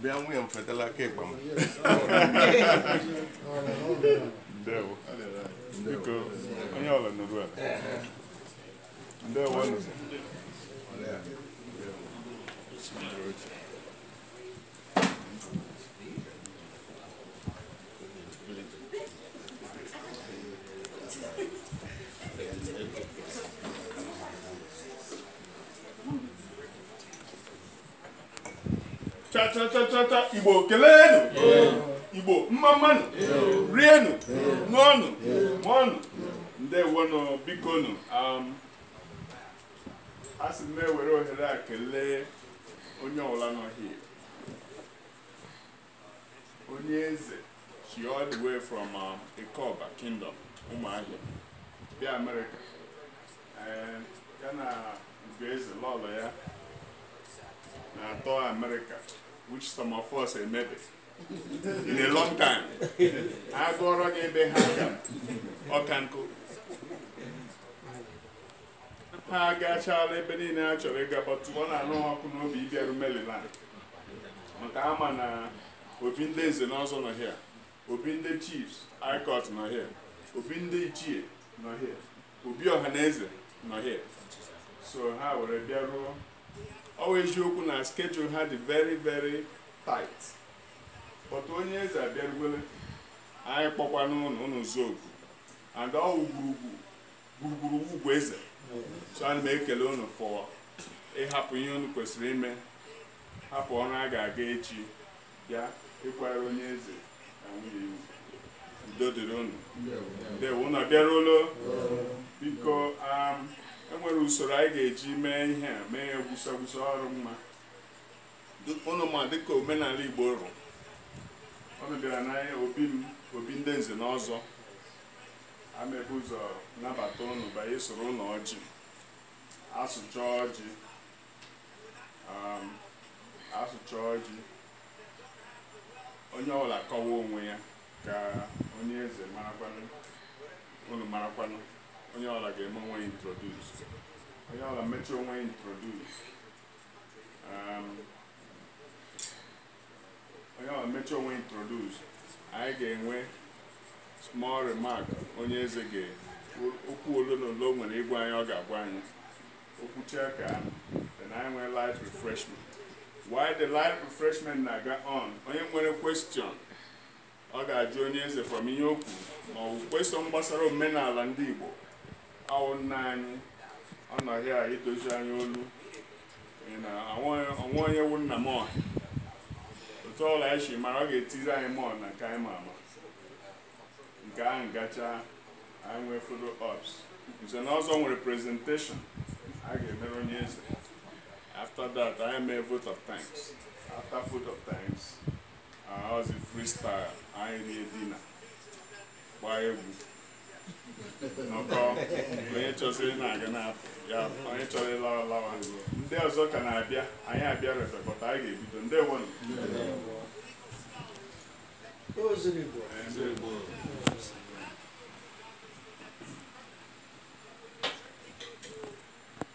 bịa nwunye m fetala aka ịkpa m ndewo biko onye ọbụla nọrọ ala ndewo nụ chachachachata igbo keleenụ igbo mma mmanụ rienụ ṅụọnụ mụọnụ ndewonụ bikonụ um, a sị m na-ewere ohere a kelee onye ọbụla nọ here onye eze si all the way from um, Ikoba Kingdom Ụmụahịa bịa Amerịka eh, ya na Ugoeze lọlọ ya na-atour Amerịka which some of us emebe in a long time ha gụọrọ gị ebe ha ga ọka nkụ ha agachala ebe niile ha chọrọ ịga but ọ na-anụ ha ọkụ n'obi ịbịaru Maryland maka ha ma na obi ndị nze na ọzọ nọ here obi ndị chiefs high court nọ here obi ndị ichie nọ here obi ọha na eze nọ here so ha were bịaruo ọ wụ eziokwu na schedule ha dị very very tight but onye eze abịarugole anyị kpọkwanụ ụnụ zogu and ọ wụ ugwu gburugburu ugwu eze so ana m ekele unu for ịhapụ ihe unu kwesịrị ime hapụ ọrụ a ga-aga echi bịa ịkwara onye eze na nwunye ya ugwu udo dịrị unu ndewo unu abịaruola biko um, enwere usoro anyị ga-eji mee ihe a mee ya gwusa gwusa ọ rụ mma Dị- unu ma dịka omenala igbo rụ unu bịara n'anya obi m obi ndị nze na ọzọ a na-ebu ụzọ nabata ụnụ banye sụọrọ ụnụ ọjị asụcha ọjị um, asụcha ọjị onye ọbụla kọwa onwe ya ka onye eze marakwanụ ụnụ marakwanụ onye ọbụla ga-eme onwe ya introduce onye ọbụla mechie onwe ya introduce um, onye ọbụla mechie onwe introduce anyị ga-enwe small remark onye eze ga- okwu ole na ole o nwere ịgwa anyị ọ ga-agwa anyị o kwuchakwaa then anyị nwee light refreshment while the light refreshment na-aga on onye nwere question ọ ga-ajụ onye eze from ihe okwu ma ọ bụ question gbasara omenala ndị Igbo awụ nna anyị ọ nọ here idozi anyị olu ị na onwe onye wu nna m ọha otu ọla anyị si mara ọ ga-etiri anyị mọọ na nke anyị ma ama nke ahụ gacha anyị nwee photo ops nze na ọzọ nwere presentation a ga-emere onye eze after that anyị mee vote of thanks after vote of thanks ọzi freestyle anyị erie dinner gbaa egwu nọkọ onye chọsịrị na-aga na-apụ ya onye chọrọ ịlawa lawa ndị ọzọ ka na-abịa anyị abịa repe but anyị ga-ebido ndewonụ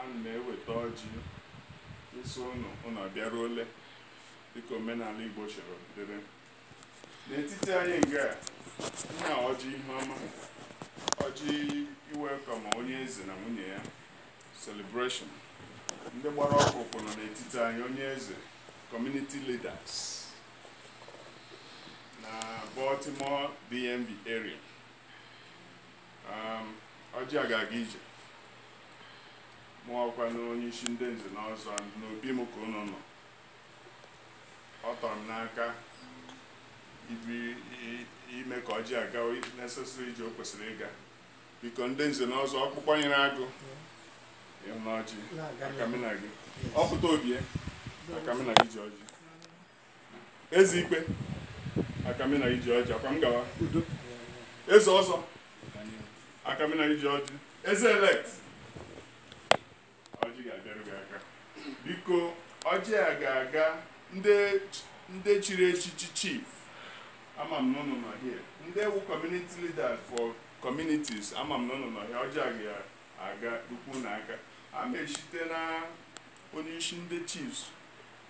ana m eweta ọjị ịsị ụnụ ụnụ abịaruole dịka omenala Igbo chọrọ dịrị n'etiti anyị nga a nna ọjị ihe ọma ọjị iwelcome onye eze na nwunye ya celebration ndị gbara ọkpụkpụ nọ n'etiti anyị onye eze community leaders na Baltimore DMV area Um, ọjị a ga-aga ije mụ wụkwanụ onye isi ndị nze na ọzọ n'obi m ka unu nọ ọ tọrọ m n'aka ibi- i- ime ka ọjị a gaa necessary ije o kwesịrị ịga biko ndị nze na ọzọ ọkpụkpọ nyere agụ ịhụ na ọjị aka mụ na gị ọ pụta obie aka mụ na gị ji ọjị eze ikpe aka mụ na gị ji ọjị akwa m gawa udo eze ọzọ aka mụ na gị ji ọjị eze elect ọjị ga-abịarụ gị aka biko ọjị a ga-aga ndị ndị chiri echichi chief ama m n'ụnụ nọ here ndewo community leaders for communities ama m n'ụnụ nọ here ọjị a ga-aga ụkwụ na aka a na-esite na onye isi ndị chiefs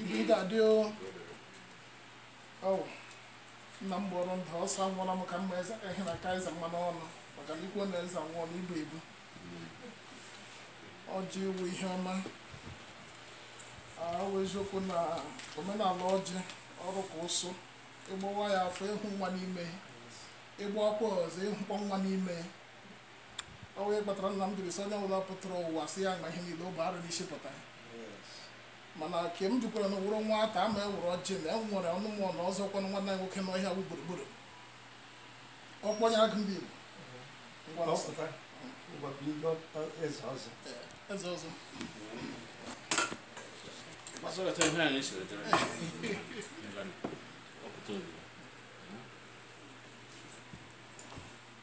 Ibe ị ga-adị o. Ọwụ, nna m gbọrọ ndụ ọsọ anwụọla m ka mma eze ehi na ka eze mmanụ ọnụ maka na ikwu na eze anwụọ na ibu ebu ọjị ị wụ ihe ọma ị wụ eziokwu na omenala ọjị ọrụ ka ụsụ ị gbawa ya afọ ị hụ nwa n'ime ị gbawakwa ọzọ ị hụkwa nwa n'ime o wee kpatara nna m jiri sị onye ọbụla pụtara ụwa sị ya ma ihe niile o bu arụ n'isi pụta mana ke m jikwaranụ wụrụ nwata ama ewere ọjị na enwere ọnụmụ na ọzọ kwanụ nwanne anyị nwoke n'ọhịa wụ gburugburu ọkpọnye agụ ndị Igbo ngwa Ọ nsọ. pụta ngwa bido eze ọzọ Ee, eze ọzọ Masọrọta ihe anyị siri dịrị. Ọpụta obi.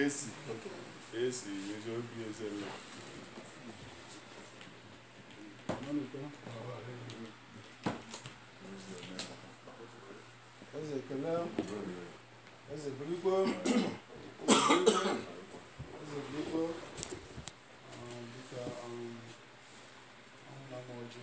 esi esi ezi obi eze nna eze ekele eze birikwo eze birikwo dịka ọrụ na ọjị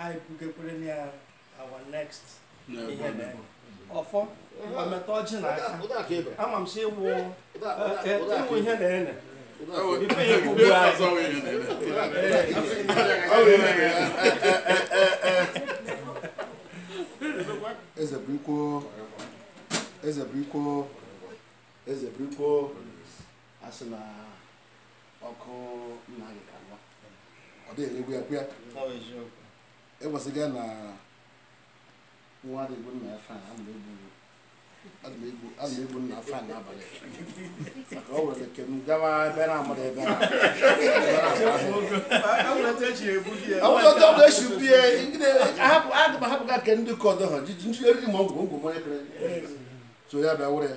anyị bugekwerenụ ya our next ihe na ọfọ mmetụ ọjị na aka ama m si ịwụ ịwụ ihe na ene ife ya bụ ugbu anyị eze birikwo eze birikwo eze birikwo a sị na ọkụ nna gị ka nwa ọ dịghị eregbu ya kwụya ewesịga na nwa dị egbu nna ya fan a na egbu a na-egbu nna fan n'abalị maka ọ nwere ike gawa ebe na amara ebe na echibie ahapụga nke ndị kọdọ ha jiji ndị eriri ma ọgwụ ngwụ mmanya kere so ya bịa were ya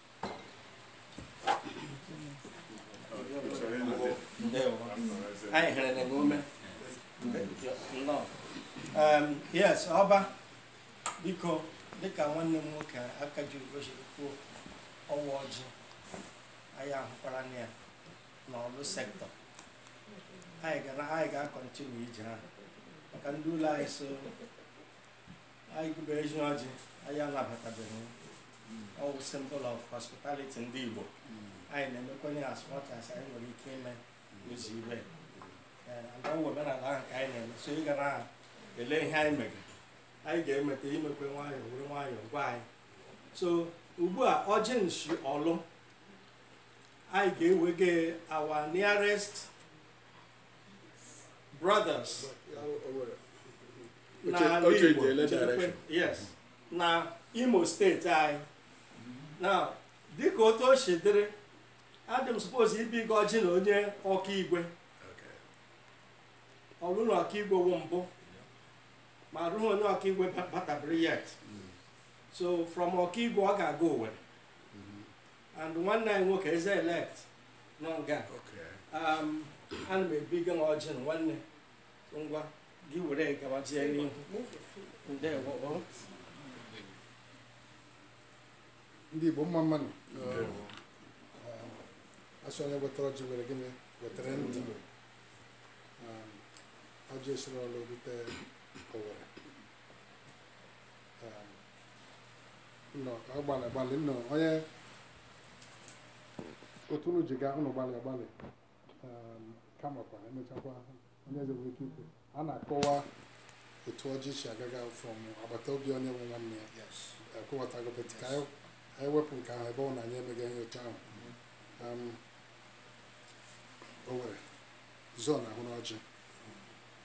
anyị hịrị na ume yes ọba biko dịka nwanne m nwoke Akajiugo siri kwuo ọwa ọjị anyị ahụkwaranụ ya n'Orlu sektọ anyị ga-akọntinu ije ahụ maka ndị ụlọ anyị so anyị gụba ezi ọjị anyị anabatabeghị ọwụ symbol of hospitality ndị Igbo anyị na-emekwanye as much as anyị nwere ike ime ụzọ ibe ndị ọwụ omenala ahụ ka anyị na-eme so ị ga na-ele ihe anyị mege anyị ga-emeta i mekwe nwayọọ were nwayọọ gwa anyị so ugbu a ọjị nshi Orlu anyị ga-ewege our nearest brothers n'ala Igbo yes na Imo steeti anyị na dịka otu o si dịrị adị m suppose ibiga ọjị na onye Okigwe Orlu na Okigwe wụ mbụ ma ahụghị onye Okigwe batabiri yet so from Okigwe ọ ga-aga Owerri and nwanne anyị nwoke eze elect nọ nga Okay. um, ana m ebiga na ọjị na nwanne Ngwa gị were gabazie n'ihu ndewo o. ndị Igbo mma mma nụ a sị onye wetara ọjị mere gịnị wetara ndụ ọjị esiri Orlu rute Owerri nọ ka ọ gbalị agbalị nnọọ onye otu unu ji gaa unu gbalị agbalị um, kamakwa emechakwa onye eze nwere ike ikwu a na-akọwa otu ọjị si agaga from agbata obi onye wụ nwanne ya yes akọwatago but ka anyị anyị wepụ nke ahụ ebe ọ wụ na anyị emeghị ihe otu ahụ Um, o nwere zone ahụ n'ọjị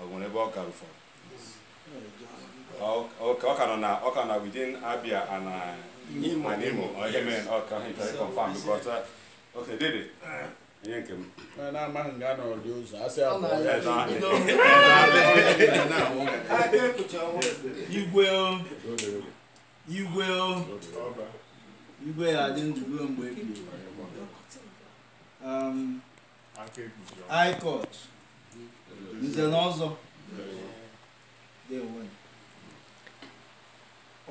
o nwere ebe ọ gara ụfọdụ ọ ka nọ na ọ ka na within Abia and Imo and Imo ọ ihe mere ọ ka he try confirm because uh, okay dede ihe nke m na-amaghị nga na ọdị ụzọ asị abụọ ya igwe igwe igwe ya adị ndụ ruo mgbe ebighị high court nze na ọzọ ndị nwe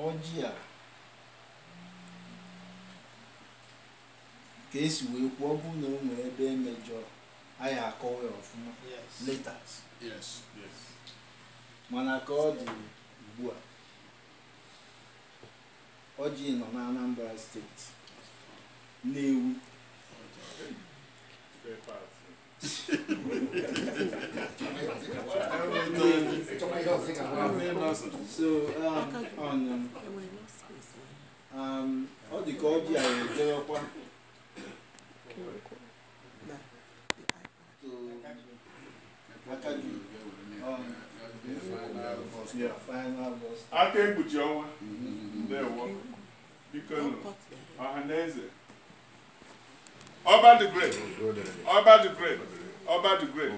ọjị a ka e si wee kwuo ọ bụrụ na o nwere ebe e mejọrọ anyị akọwa ya ọfụma later Yes. Yes. mana ka ọ dị ugbu a Ọjị nọ na Anambra steeti Nnewi so um, on, um, um, ọ dị ka ọjị a ejewekwa aka ekpuchi ọnwa ndewo biko ọha na eze ọba the great ọba the great ọba the great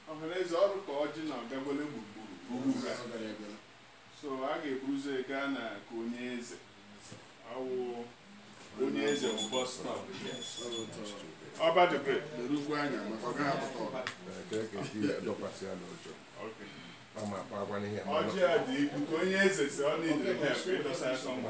ọha na eze ọ dị ka ọjị na agagole gburugburu so a ga-eburu ụzọ gaa n'aka onye eze awụ onye eze bụ bus stop ọba dịbe erukwu anya maka ọ gaghị apụta ọba ọjị a dị ikwu ka onye eze si ọ na-edere ha efe ịdọsa asọ mma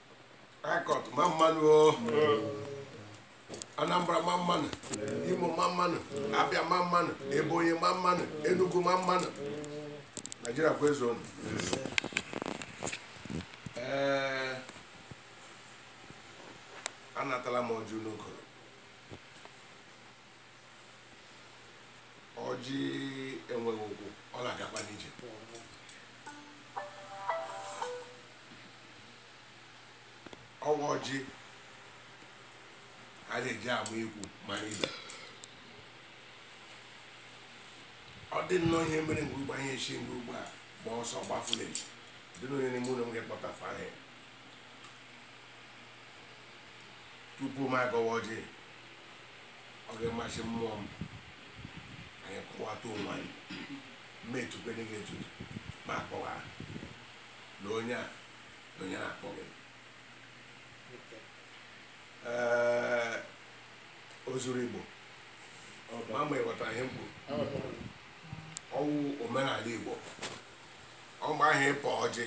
Harcourt mma mma nụ o. Anambra mma mma nụ, Imo mma mma nụ, Abịa mma mma nụ, Ebonyi mma mma nụ, Enugu mma mma nụ. Naijiria kwezuonụ. Ee, anatala m ọjị n'okoro. ọjị enweghị ụkwụ ọ na-agakwa n'ije ọ wụ ọjị a na-eji agba ikwu ma ibe ọ dị nnọọ ihe mere mgbe ụgbọ ihe esi ndị ugbo a gba ọsọ gbafule dị n'onye n'ime ụlọ m ga-ekpọtafe aha ya tupu m agọwa ọjị ọ ga-amasị mmụọ m anyị kọwata onwe anyị ma etukwene gị etutu ma akpọwa na onye a na onye na-akpọ gị ee Ozuruigbo ma mgbe ị ghọtara ihe m kwuru ọ wụ omenala igbo ọgba ahụ ịpọ ọjị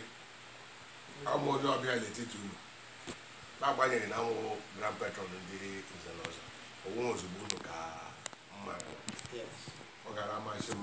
m wụ onye ọbịa n'etiti unu n'agbanyeghị na m wụ grand patron ndị nze na ọzọ onwe ozugbo unu ka mma ọ gara amasị m